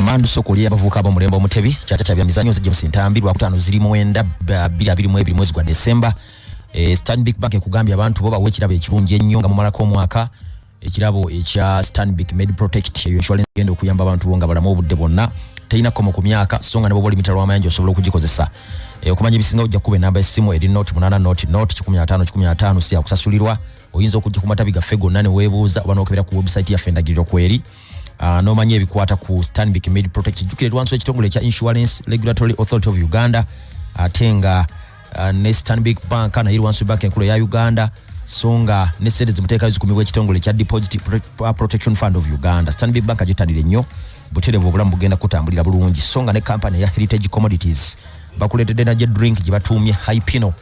Mandu soko lya bavuka abo mulembo mutebi kyata kyabya mizanyo zije musintambi lwa kutano ziri muwenda bila bili mwebili mwezi gwa December e, eh, Stanbic Bank kugambya abantu boba wekirabo ekirungi ennyo nga mumala ko mwaka ekirabo ekya Stanbic Med Protect eyo insurance genda okuyamba abantu bonga balamu obudde bonna tayina komo ku myaka songa nebo boli mitalo amayanja osobola okugikozesa e, okumanya ebisinga ojja kuba enamba esimu eri not munana not not 15 15 siya kusasulirwa oyinza okujja ku matabi gaffe gonna ne webuuza oba nokebera ku website yaffe endagiriro kweri Ah, n'omanya ebikwata ku stanbic made protect jjukira erwanso ekitongole ekya insurance regulatory authority of uganda ate nga ah, ne stanbic bank naye erwanso bank enkulu eya uganda so nga ne sente zimuteekayo zikumibwa ekitongole ekya deposit ah, protection fund of uganda stanbic bank gyetanire nnyo buterevu obulamu bugenda kutambulira bulungi so nga ne kampani eya heritage commodities bakuleetedde naja drink gye batuumye hypino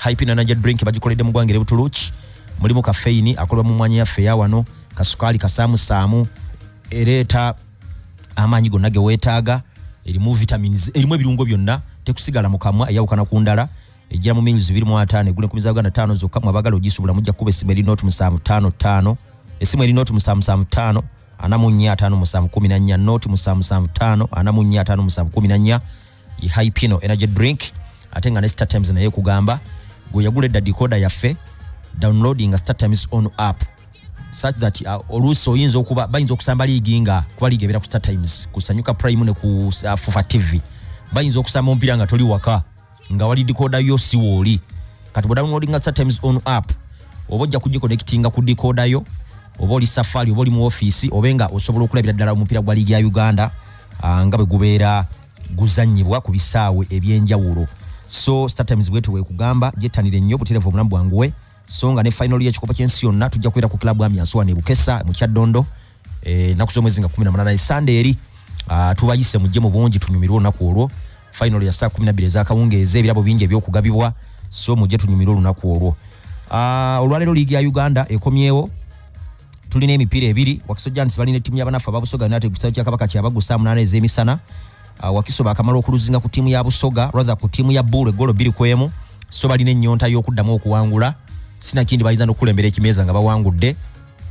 hypino naja drink bagikoledde mu gwanga erebutuluki mulimu kafeini akolebwa mu mwanya yaffe eyawano kasukaali kasaamusaamu ereeta amaanyi gonna ge weetaaga erimu vitamins erimu ebirungo byonna tekusigala mu kamwa eyawukana ku ndala ejja mu mills biri mu ataano egula enkumi za uganda taano zokka mu abagala ogisubula mujja kukuba essimu eri nooti musanvu taano taano essimu eri nooti musanvu musanvu taano ana mu nnya ataano musanvu kumi na nnya nooti musanvu musanvu taano ana mu nnya ataano musanvu kumi na nnya hypino energy drink ate nga ne star times naye kugamba gwe yagula edda decoda yaffe downloading star times on app such that uh, oluusi oyinza okuba bayinza okusamba liigi nga kuba liigi ebeera ku star times ku sanyuka prime ne ku uh, fufa tv bayinza okusamba omupiira nga toli waka nga wali decoda yo si wooli kati bwe downloading star times on app oba ojja kugikonectinga ku decoda yo oba oli safari oba oli mu ofiisi obe nga osobola okulabira ddala omupiira gwa liigi ya uganda uh, nga bwe gubeera guzanyibwa ku bisaawe ebyenjawulo so startimes bwetu wekugamba jettanire nnyo buterevu obulamu bwanguwe so nga ne final yekikopo kyensi yonna tujja kubeera ku club amyansuwa ne bukesa mu kyaddondo eh, naku zomwezi nga 18 e sande eri ah, tubayise mujje mu bungi tunyumirwe olunaku olwo final ya saa 12 ezakawungeeza ebirabo bingi ebyokugabibwa so mujje tunyumirwe olunaku olwo ah, olwaleero liigi ya uganda ekomyewo tulina emipiira ebiri wakiso giants balina ettiimu yabanaffe ababusoga united ku kisaawe kya kabaka kyabagu saa munaana ez'emisana uh, wakiso baakamala okuluzinga ku ttiimu ya busoga rather ku ttiimu ya buulu eggolo bbiri ku emu so balina ennyonta y'okuddamu okuwangula sinakindi bayinza n'okukulembera ekimeeza nga bawangudde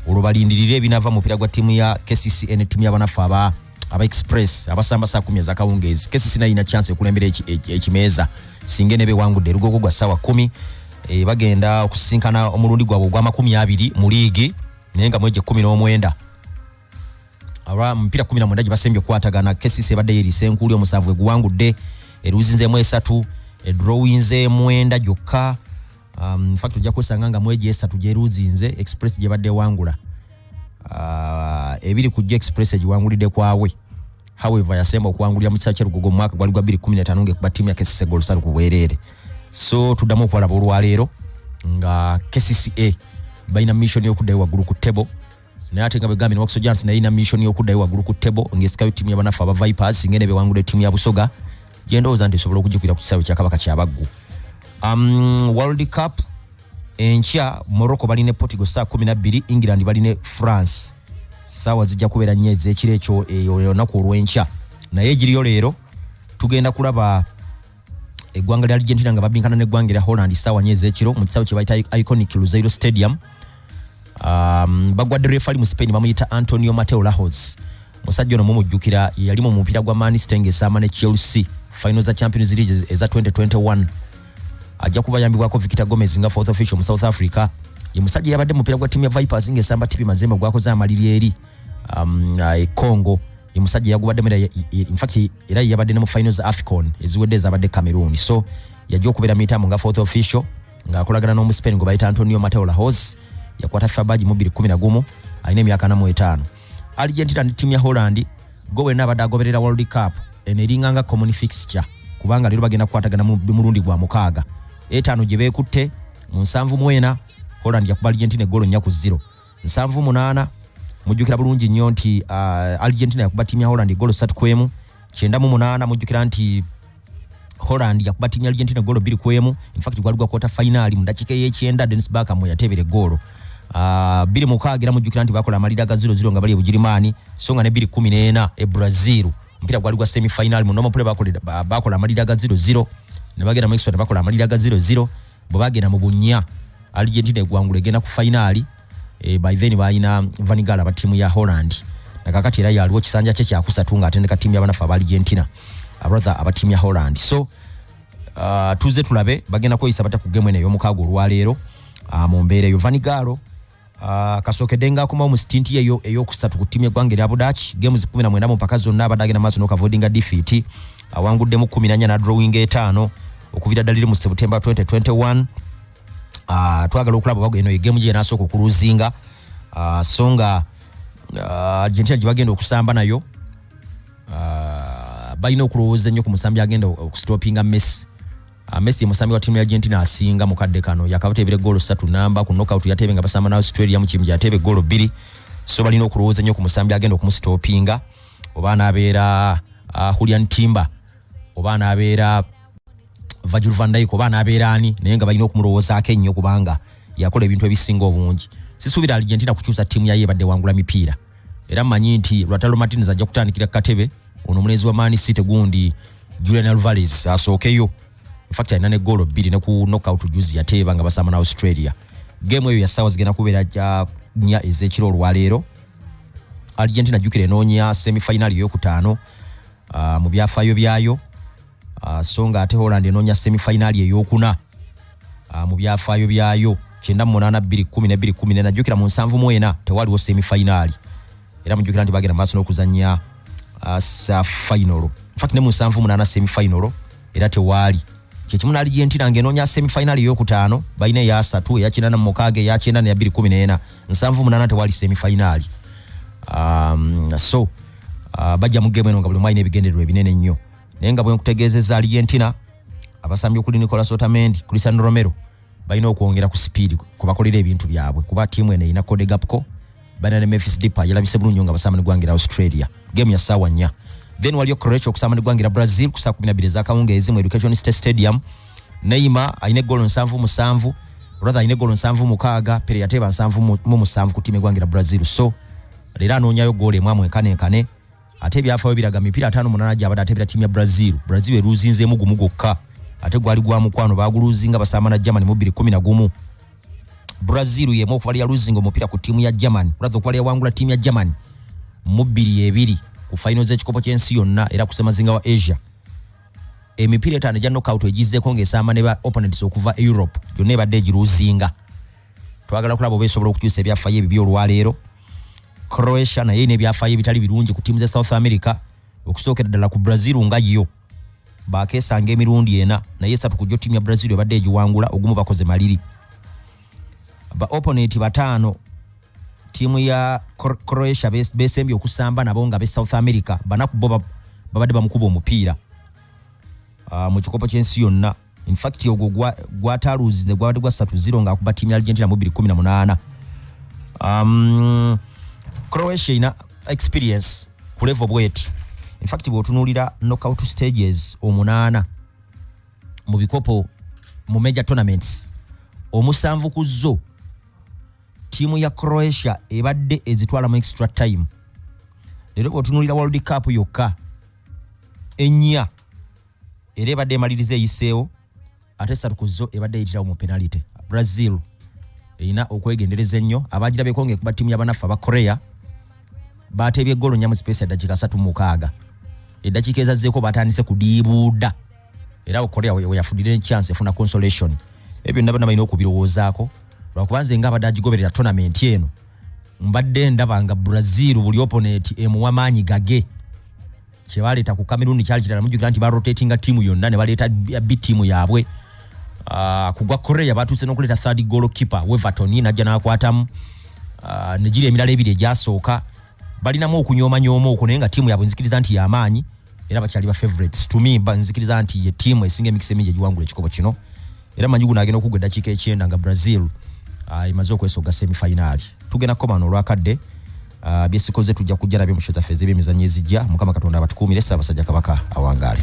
olwo balindirire ebinava mu mupiira gwa ttiimu ya kcca ne ttiimu yabanaffe aba aba express abasamba saa kumi ezakawungeezi kesi sinayina chance ekulembera ekimeeza singa enebe wangudde erugogo gwa saawa kumi e, bagenda okusisinkana omulundi gwabwe ogwamakumi abiri mu liigi naye nga mwegye kumi n'omwenda aba mupiira kumi na mwenda gye basembye okukwatagana kesisi ebadde yeeriisa enkuuli omusanvu gwe guwangudde eruuzi nzeemu esatu edrowinze mwenda gyokka um, infact ojja kwesanga nga mwegi esatu gyeruzinze express gyebadde ewangula uh, ebiri ku gyo express egiwangulidde kwawe however yasemba okuwangulira mu kisa kyerugogo mu mwaka gwali gwa 215 ngaekuba tiimu ya kesisega olusale ku bwereere so tuddamu okulaba olwaleero nga kcca balina mission yokuddayo waggulu ku table naye ate nga bwegambye ne wakiso jansi naye ina mission y'okuddayo waggulu ku tebo ng'esikayo ttiimu ya banaffe aba vipers singa ene bewangula ettiimu ya busoga gye ndowooza nti esobola okugikwira ku kisaawe kya kabaka kyabaggu um, world cup enkya morocco bali ne portugal saa kumi nabbiri england bali ne france saawa zijja kubeera nnyo ez'ekiro ekyo eyo olunaku olw'enkya naye egiriyo leero tugenda kulaba eggwanga lya argentina nga babinkana neggwanga erya holland saawa nyo ezekiro mu kisawe kyebayita iconic luzeiro stadium um, bagwadde refali mu spain bamuyita antonio mateo lahos musajja ono mumujjukira yali mu mupiira gwa maniste ngaesaama ne chelsea final za champions league eza 2021 ajja kuba yambibwako victor gomez nga fourth official mu south africa ye musajja yabadde mupiira gwa timu ya vipers ngaesamba tipi mazembe gwakoze amaliri eri um, uh, e congo ye musajja yagubaddemu era ye- ye- in fact era ye yabadde ne mu final za afcon eziwedde ezabadde cameroon so yajja okubeera mu mitambo nga fourth official ng'akolagana n'omuspain gwe bayita antonio mateo lahos yakwata fifa baji mu 211 alina emyaka ana mu etaano argentina ne tiimu ya holland gwe wenna abadde agoberera world cup eno eringa nga common fixture kubanga leero bagenda kukwatagana mu mu mulundi gwa mukaaga etaano gye beekutte mu nsanvu mwena holland yakuba argentina eggolo nnya ku ziro nsanvu munaana mujjukira bulungi nnyo nti uh, argentina yakuba tiimu ya holland egolo satu ku emu kyenda mu munaana mujjukira nti holland yakuba tiimu ya argentina egolo bbiri ku emu infact gwali gwa kota fainaali mu dakiika ey'ekyenda denis baka mwe yateebera egoolo uh, bbiri mukaaga era mujjukira nti bakola amalira ga ziro ziro nga bali e bugirimaani so nga ne bbiri kumi n'ena e brazil omupiira gwali gwa semi fainaali mu nomopule bakola amalira ga ziro ziro ne bagenda mu extra ne bakola amalira ga ziro ziro bwe bagenda mu bunnya argentina egwangula egenda ku fainaali e, eh, by then balina vanigala ba tiimu ya holland nakakati era yaliwo kisanja kye kyakusatu nga atendeka tiimu yabanafe aba argentina abrother aba tiimu ya holland so uh, tuze tulabe bagenda kweyisa bata ku gemu eno eyomukaago olwaleero uh, mu mbeera eyo vanigalo Ah, kasookedde nga akomawo mu sitinti ye eyokusatu ku ttiimu yeggwanga erya budaaki games kumi na mwenda mu mpaka zonna abadde agenda maaso n'okavoidinga difiiti awanguddemu kumi nanya nadrowinga etaano okuvira ddala iri mu september 2021 ah, twagala okulaba oba eno egemu gye yanasooka okuluzinga ah, so nga argentina gye bagenda okusamba nayo balina okulowooza ennyo ku musambi agenda okusitopinga messi Ah, Messi musambi wa timu ya Argentina asinga mu kadde kano yakabateebera ggoolo ssatu namba ku knockout yateebe nga basamba na Australia mu kimu gyateebe ggoolo bbiri so balina okulowooza nnyo ku musambi agenda okumusitoopinga oba anaabeera uh, Julian Timber oba anaabeera Virgil van Dijk oba anaabeera ani naye nga balina okumulowoozaako ennyo kubanga yakola ebintu ebisinga obungi sisuubira Argentina kukyusa tiimu yayo ebadde wangula mipiira era mmanyi nti Lautaro Martinez ajja kutandikira ku katebe ono omulenzi wa man city gundi julian alvarez asookeyo infact alina ne goolo bbiri ne ku knockout juzi yateeba nga basamba na australia geemu eyo yasaawa zigenda kubeera ja nnya ez'ekiro olwaleero argentina jjukira enoonya semifinali eyokutaano uh, mu byafaayo byayo Ah, so nga ate holland enoonya semifayinaali eyokuna ah, mu byafaayo byayo kyenda mumunana bbiri kumi ne bbiri kumi nena jjukira mu nsanvu mu ena tewaliwo semifayinaali era mujjukira nti bagenda maaso n'okuzannya ah, sa fayinolo infact ne mu nsanvu munana semifayinolo era tewaali kyekimu naali gyentira nga enoonya semifayinaali eyokutaano balina eyasatu eyakinana mu mukaaga eyakyenda neya bbiri kumi nena nsanvu munana tewaali semifayinaali um, so uh, bajja mu gemu eno nga buli mwalina ebigendererwa ebinene ennyo naye nga bwenkutegeezezza aligentina abasambi okuli nicolas otamendi cristian romero balina okwongera ku sipiidi kubakolera ebintu byabwe kuba tiimu eno erina kodegapco balina ne mefis dipa yalabise bulungi nga basamba ne gwangera australia gemu ya ssaawa nnya then waliyo croatia okusamba ne gwangera brazil ku saa kumi nabiri ezakawungeezi mu education state stadium neima alina egolo nsanvu musanvu rather alina egolo nsanvu mukaaga pere yateeba nsanvu mu musanvu ku tiimu egwangera brazil so leero anoonyayo goolo emu amwenkane nkane ate ebyafaayo biraga mipiira ataano munaana gyabadde ateebera tiimu ya brazil brazil eruuzinzeemu gumu gwokka ate gwali gwa mukwano baaguluuzinga basaamana germany mu bbiri kumi na gumu brazil yemu okubala yaluuzinga omupiira ku tiimu ya germany olatha okubala yawangula tiimu ya germany mu bbiri ebiri ku fayino z'ekikopo ky'ensi yonna era kusemazinga wa asia emipiira etaano egya nokout egizzeko ng'esaama ne ba opponents okuva e europe gyonna ebadde egiruuzinga twagala okulaba oba esobola okukyusa ebyafayo ebibyo olwaleero croatia naye ina ebyafaayo ebitali birungi ku tiimu ze south america okusookera ddala ku brazil nga yo bakesanga emirundi ena naye esatu kujjo tiimu ya brazil ebadde egiwangula ogumu bakoze maliri ba opponent bataano tiimu ya croatia besembye okusamba nabo nga be south america banaku bo babadde bamukuba omupiira ah, mu kikopo ky'ensi yonna in fact ogwo gwataluuzize gwabadde gwa satu zero ng'akuba tiimu ya argentina mu bibiri kumi na munaana um, croatia ina experience ku levo bweti infact bwotunuulira knockout stages omunaana mu bikopo mu major tournaments omusanvu ku zo tiimu ya croatia ebadde ezitwala mu extra time leero bwotunuulira world cup yokka ennya era ebadde emaliriza eyiseewo ate esatu ku zo ebadde eyitirawo mu penalite brazil erina okwegendereza ennyo abagirabeko ngaekuba ttiimu yabanaffe aba korea bateebye eggolo nnya mu sipeesi ya ddakiika satu mukaaga eddakiika ezazzeeko batandise kudiibuuda era korea weyafudira enchansi efuna consolation ebyo byonna bana balina okubirowoozaako lwakuba nze nga abadde agigoberera tonamenti eno mbadde ndaba nga brazil buli oponeti emuwa maanyi gage kyebaleeta ku cameroon kyali kirala mujjukira nti barotatinga tiimu yonna ne baleeta bi tiimu yaabwe ah, ku gwa korea batuuse n'okuleeta third golo keeper weverton najja n'akwatamu ah, negiri emirala ebiri egyasooka balinamu okunyomanyooma okwo naye nga tiimu yaabwe nzikiriza nti yamaanyi era bakyali ba favorites to me nzikiriza nti ye tiimu esinga emikisa emingi egiwangula ekikopo kino era manyi guno agenda okugwa eddakiika ekyenda nga brazil ah, emaze okwesoga semifayinaali tugenda kukomana olwakadde Ah, byesikoze tujja kujja nabyo mu show zaffe ez'ebyemizannyo ezijja mukama katonda abatukuumire ssaabasajja kabaka awangaale